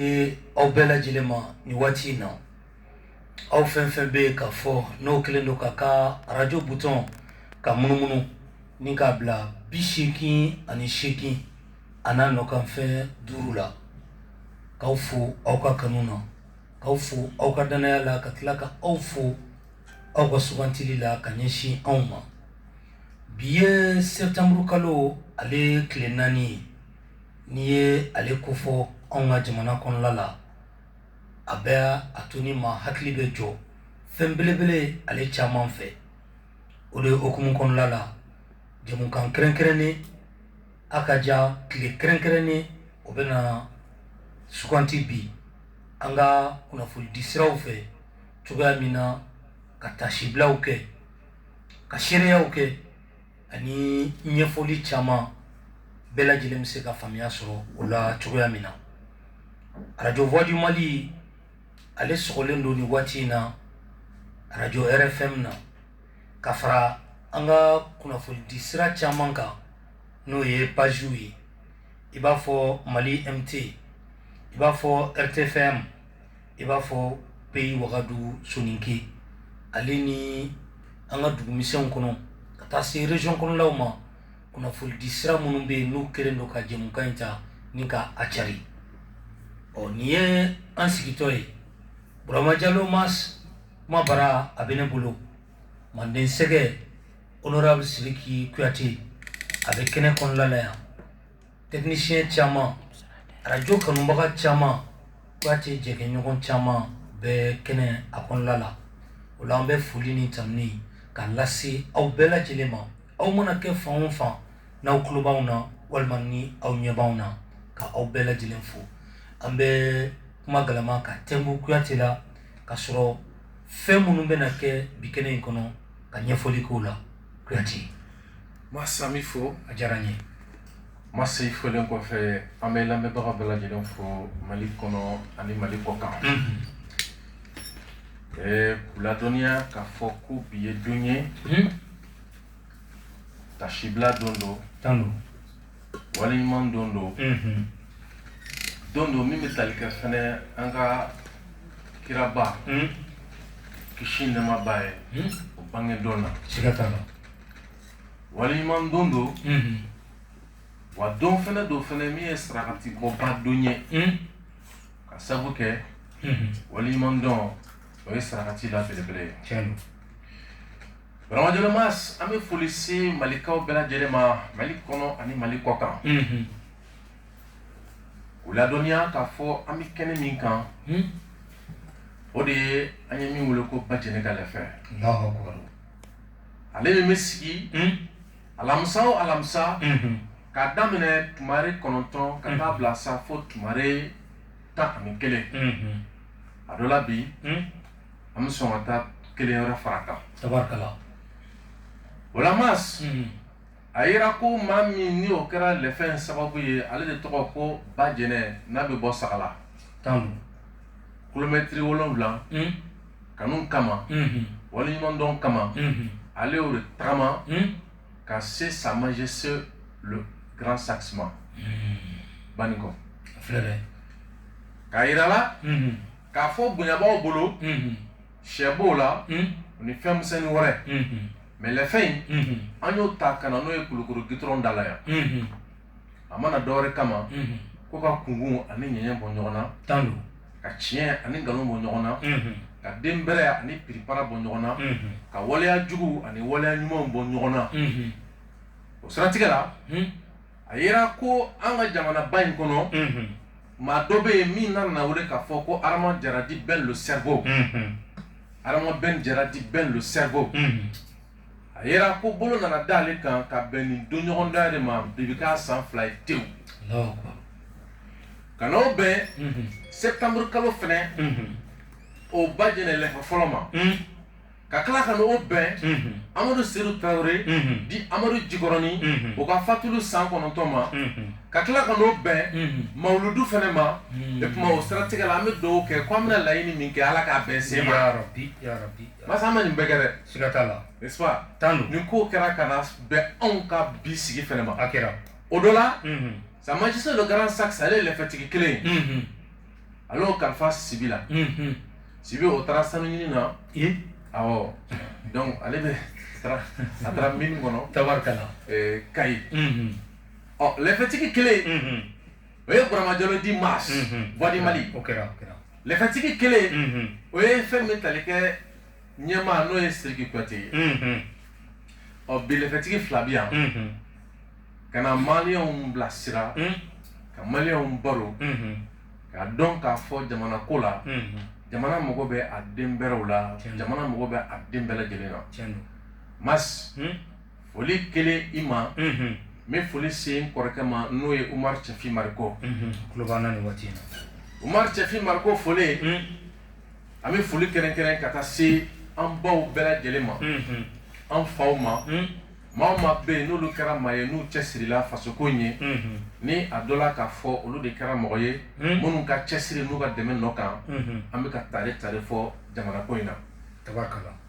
Ee aw bɛɛ lajɛlen ma nin waati in na aw fɛn fɛn bɛ yen k'a fɔ n'o kɛlen don k'a ka arajo butɔn ka munumunu ni k'a bila bi seegin ani seegin a n'a nɔkanfɛn duuru la k'aw fo aw ka kanu na k'aw fo aw ka dannaya la ka tila ka aw fo aw ka sugantili la ka ɲɛsin anw ma bi ye sɛtanburu kalo ale tile naani ye N'i ye ale kofɔ anw ka jamana kɔnɔla la a bɛ a to ni ma hakili bɛ jɔ fɛn belebele ale caman fɛ o de hukumu kɔnɔla la jamukan kɛrɛnkɛrɛnnen a ka jan tile kɛrɛnkɛrɛnnen o bɛ na suganti bi an ka kunnafonidisiraw fɛ cogoya min na ka taasibilaw kɛ ka seereyaw kɛ ani ɲɛfɔli caman bɛɛ lajɛlen bɛ se ka faamuya sɔrɔ o la cogoya min na arajo voix du mali ale sɔgɔlen don ni waati in na arajo rfm na ka fara an ka kunnafonidi sira caman kan n'o ye pazw ye i b'a fɔ mali mt i b'a fɔ rtfm i b'a fɔ peyi wagadu soninke ale ni an ka dugumisɛnw kɔnɔ ka taa se rezɔn kɔnɔlaw ma kunnafonidi sira minnu bɛ yen n'u kɛlen don ka jɛmukan in ta ni ka a cari ɔ nin ye an sigitɔ ye Burama Jalo Masa kuma bara a bɛ ne bolo manden sɛgɛ honorable Siriki Kuyate a bɛ kɛnɛ kɔnɔla la yan Tɛkinisiyɛn caman arajo kanubaga caman Kuyate jɛkɛɲɔgɔn caman bɛ kɛnɛ a kɔnɔla la o la an bɛ foli ni tanuni k'a lase aw bɛɛ lajɛlen ma aw mana kɛ fan o fan n'aw tulo b'anw na walima ni aw ɲɛ b'anw na ka aw bɛɛ lajɛlen fo an bɛ kuma galama ka tɛmɛ kuyate la ka sɔrɔ fɛn minnu bɛna kɛ bi kɛnɛ in kɔnɔ ka ɲɛfɔli k'o la Kuyate masa n b'i fo a diyara n ye masa i folen kɔfɛ an bɛ lamɛnbaga bɛɛ lajɛlen fo mali kɔnɔ ani mali kɔkan ɛɛ k'u ladɔnniya k'a fɔ ko bi ye don ye taasibila don don tanu don Waleɲuman dɔn don don don min bɛ tali kɛ fɛnɛ an ka kiraba kisi nɛɛma b'a ye o bange don na waleɲuman dɔn don wa don fɛnɛ don fɛnɛ min ye sarakati bɔba don ye ka sabu kɛ waleɲuman dɔn o ye sarakati la belebele ye Burama jalo mas an bɛ foli se malikaw bɛɛ lajɛlen ma mali kɔnɔ ani mali kɔ kan u ladɔnniya k'a fɔ an bɛ kɛnɛ min kan o de ye an ye min weele ko bajɛnɛ ka lɛfɛ ale min bɛ sigi alamisa o alamisa k'a daminɛ tumare kɔnɔntɔn ka taa bila sa fo tumare tan ani kelen a dɔ la bi an bɛ sɔn ka taa kelen wɛrɛ fara a kan tabarikala o la mas hmm. a yera ko maa min ni o kɛra lɛfɛ in sababu ye ale de tɔgɔ ko bajɛnɛ n'a bɛ bɔ sagala tan kilomɛtiri wolonwula hmm. kanu kama hmm. waleɲumandɔn kama ale y'o de tagama ka se sa majesté le grand saxe ma banikɔ k'a yira la k'a fɔ bonyabaw bolo sɛ b'o la ni fɛnmisɛnni wɛrɛ mɛ lɛfɛ in an y'o ta ka na n'o ye kulukoro gitɔrɔn da la yan a ma na dɔwɛrɛ kama ko ka kunkun ani ɲɛɲɛ bɔ ɲɔgɔn na tan don ka tiɲɛ ani nkalon bɔ ɲɔgɔn na ka den bɛrɛ ani piripara bɔ ɲɔgɔn na ka waleya jugu ani waleya ɲumanw bɔ ɲɔgɔn na o siratigɛ la a yera ko an ka jamanaba in kɔnɔ maa dɔ bɛ yen min nana weele k'a fɔ ko adama jara di ben le cerveau adama ben jara di ben le cerveau a yera ko bolo nana da ale kan ka bɛn nin don ɲɔgɔn da de ma bi bɛ k'a san fila ye tewu ka n'o bɛn sɛtanburu kalo fɛnɛ o bajɛnɛ lɛfɛ fɔlɔ ma ka tila ka n'o bɛn amadu seyidu tarawele di amadu jikɔrɔni o ka fatulu san kɔnɔntɔn ma ka tila ka n'o bɛn mawludu fɛnɛ ma e tuma o siratigɛ la an bɛ dugawu kɛ ko an bɛna laɲini min kɛ ala k'a bɛn sen ma mas an ma nin bɛɛ kɛ dɛ siga t'a la tan nin ko kɛra ka na bɛn anw ka bi sigi fɛnɛ ma a kɛra o dɔ la sa majesté le grand saxe ale ye lɛfɛtigi kelen a y'o kalifa sibi la sibi o taara sanu ɲini na awɔ donc ale bɛ a taara mini kɔnɔ tabarikala kayi ɔ lɛfɛtigi kelen o ye burama jalo di mas voix du mali lɛfɛtigi kelen o ye fɛn min tali kɛ ɲɛmaa n'o ye siriki kuyate ye ɔ bi lɛfɛtigi fila bi yan ka na maliyɛnw bilasira ka maliyɛnw baro ka dɔn k'a fɔ jamana ko la jamana mago bɛ a den bɛrɛw la jamana mago bɛ a den bɛɛ lajɛlen la Mass foli kelen i ma n bɛ foli se n kɔrɔkɛ ma n'o ye umar cɛfin mariko umar cɛfin mariko foli an bɛ foli kɛrɛnkɛrɛn ka taa se an baw bɛɛ lajɛlen ma an faw ma Maa o maa bɛ yen n'olu kɛra maa ye n'u cɛsirila fasoko ye ni a dɔ la k'a fɔ olu de kɛra mɔgɔ ye minnu ka cɛsiri n'u ka dɛmɛ nɔ kan an bɛ ka tare tare fɔ jamana ko in na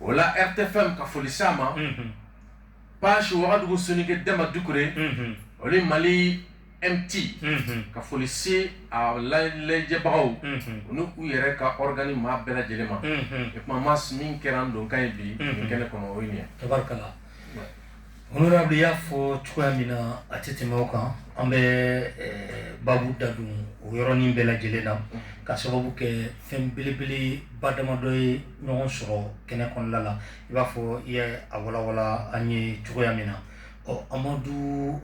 o la RTFM ka foli s'a ma page wagadugu soninke dama dukure olu mali MT unhun ka foli se a lajɛbagaw unhun u n'u k'u yɛrɛ ka organe maa bɛɛ lajɛlen ma unhun o tuma Mass min kɛra an donkan ye bi unhun nin kɛnɛ kɔnɔ o ye nin ye tabarikala Ouais. honorable y'a fɔ cogoya min na a tɛ tɛmɛ o kan an bɛ eh, babu da don o yɔrɔnin bɛɛ lajɛlen na ka sababu kɛ fɛn belebeleba damadɔ ye ɲɔgɔn sɔrɔ kɛnɛ kɔnɔna la i b'a fɔ i ye a walawala an ye cogoya min na ɔ amadu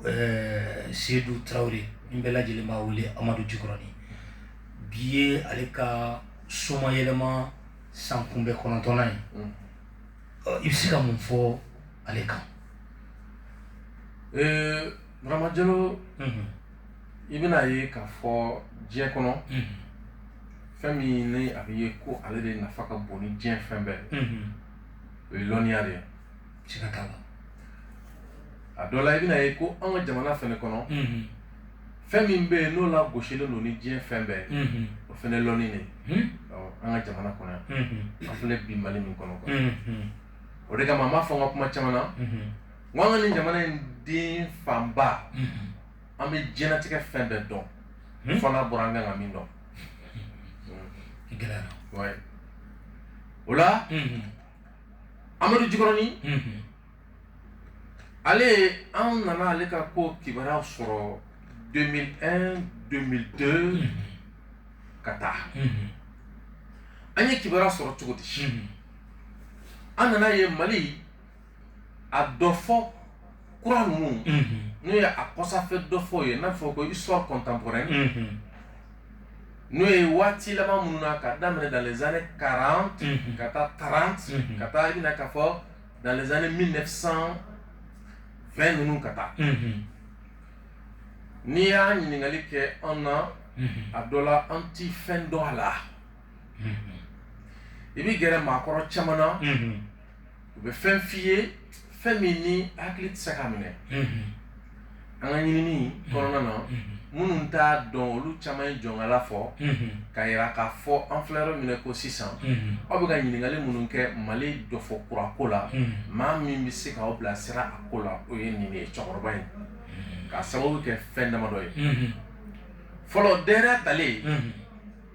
seyidu tarawele min bɛɛ lajɛlen b'a wele amadu jikɔrɔni bi ye ale ka somayɛlɛma sankunbɛn kɔnɔntɔnnan ye i bɛ se ka mun fɔ ale kan burama jalo i bɛna ye k'a fɔ diɲɛ kɔnɔ fɛn min ni a bɛ ye ko ale de nafa ka bon ni diɲɛ fɛn bɛɛ o ye lɔnniya de ye siga t'a la a dɔ la i bɛna ye ko an ka jamana fɛnɛ kɔnɔ mhm. fɛn min bɛ yen n'o lagosilen don ni diɲɛ fɛn bɛɛ mhm. o fɛnɛ lɔnni de mhm. an ka jamana kɔnɔ yan an filɛ bi mali min kɔnɔ quoi o de kama n b'a fɔ n ka kuma caman na n ko an ka nin jamana in den fanba an bɛ diɲɛlatigɛ fɛn bɛɛ dɔn fo n'a bɔra an kan ka min dɔn gɛlɛyara o la amadu jikɔrɔni ale an nana ale ka ko kibaruya sɔrɔ 2001 2002 ka taa an ye kibaruya sɔrɔ cogo di an nana ye mali a dɔfɔ kura ninnu n'o ye a kɔsafɛ dɔfɔ ye n'a fɔ ko histoire contemporaine n'o ye waati laban minnu na ka daminɛ dans les années 40 ka taa 30 ka taa i bɛna k'a fɔ dans les années 1920 ninnu ka taa n'i y'a ɲininkakali kɛ an na a dɔ la an tɛ fɛn dɔn a la i bɛ gɛrɛ maakɔrɔ caman na u bɛ fɛn f' i ye fɛn min ni hakili tɛ se k'a minɛ an ka ɲinini kɔnɔna na minnu t'a dɔn olu caman ye jɔnkala fɔ ka jira k'a fɔ an filɛ yɔrɔ min na ko sisan aw bɛ ka ɲininkali minnu kɛ mali dɔfɔ kura ko la maa min bɛ se k'aw bila sira a ko la o ye nin ye cɛkɔrɔba ye k'a sababu kɛ fɛn damadɔ ye fɔlɔ yɛrɛ talen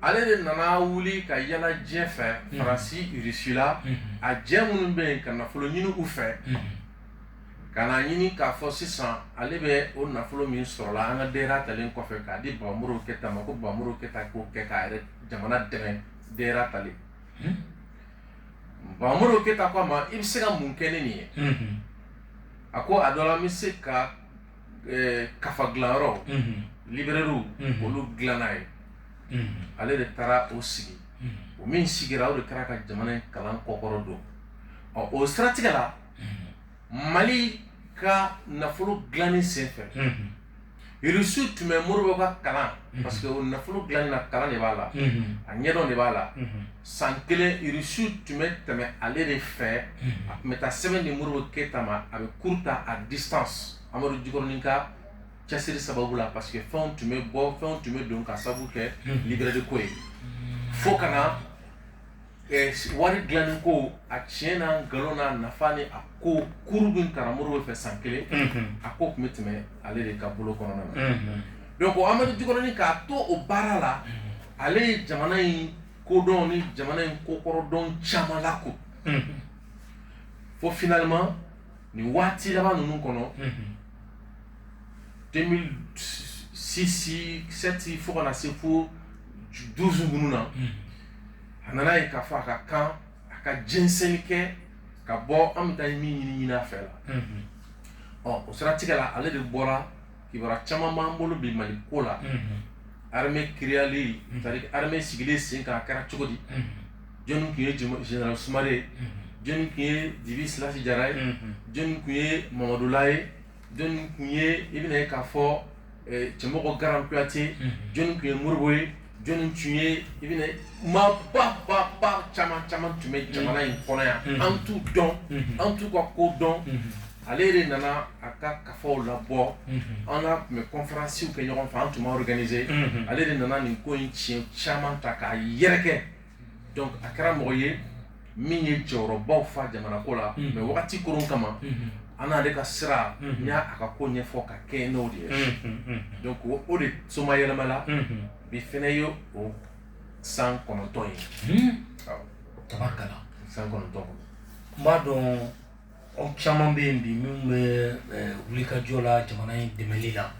ale de nana wuli ka yaala diɲɛ fɛ mm. faransi irisi la mm. a jɛ minnu bɛ yen ka nafolo ɲini u fɛ mm. ka na ɲini k'a fɔ sisan ale bɛ o nafolo min sɔrɔla an ka yɛrɛ talen kɔfɛ k'a di ba modibo keyita ma ko ba modibo keyita k'o kɛ k'a yɛrɛ jamana dɛmɛ yɛrɛ talen ba modibo keyita ko a ma i bɛ se ka mun kɛ ni nin ye a ko a dɔ la n bɛ se ka kafa dilan yɔrɔ librairie olu dilan n'a ye ale de taara o sigi o min sigira o de taara ka jamana in kalan kɔkɔrɔ don ɔ o siratigɛ la mali ka nafolo dilanni senfɛ irisiw tun bɛ modibo ka kalan parce que o nafolo dilanni na kalan de b'a la a ɲɛdɔn de b'a la San kelen irisiw tun bɛ tɛmɛ ale de fɛ a tun bɛ taa sɛbɛn di modibo keyita ma a bɛ cours ta à distance amadu jikɔrɔnin ka cɛsiri sababu la parce que fɛnw tun bɛ bɔ fɛnw tun bɛ don k'a sabu kɛ librairie ko ye fo ka na wari dilanni ko a tiɲɛ n'a nkalon n'a nafa ni a ko kuru min karamɔgɔ modibo fɛ san kelen a ko tun bɛ tɛmɛ ale de ka bolo kɔnɔna na Donc amadu jikɔrɔnin k'a to o baara la ale ye jamana in kodɔn ni jamana in kokɔrɔ dɔn caman la ko fo finalement nin waati laban ninnu kɔnɔ sisisɛti fo kana na se fo du minnu na a nana ye k'a fɔ a ka kan a ka jɛnsɛnni kɛ ka bɔ an bɛ taa min ɲini ɲinin a fɛ la ɔ o siratigɛ la ale de bɔra kibaru caman b'an bolo bi mali ko la armée créelen c'est-à-dire armée sigilen sen kan a kɛra cogo di jɔnni tun ye général sumare ye jɔnni tun ye dibi silasi jara ye jɔnni tun ye mamadula ye jɔn tun ye i bɛna ye k'a fɔ cɛmɔgɔ garan kuyate jɔnni tun ye modibo ye jɔnni tun ye i bɛna maa ba ba ba caman caman tun bɛ jamana in kɔnɔ yan an t'u dɔn an t'u ka ko dɔn ale de nana a ka kafaw labɔ an n'a tun bɛ kɔnferansiw kɛ ɲɔgɔn fɛ an tun bɛ organise ale de nana nin ko in tiɲɛ caman ta k'a yɛrɛkɛ donc a kɛra mɔgɔ ye min ye jɔyɔrɔbaw fa jamana ko la mais wagati koron kama an n'ale k'a surunya a ka ko ɲɛfɔ ka kɛ n'o de ye donc o de somayɛlɛmala bi fɛnɛ ye o san kɔnɔntɔn ye tabarikala san kɔnɔntɔn n b'a dɔn aw caman bɛ yen bi minnu bɛ wulikajɔ la jamana in dɛmɛli la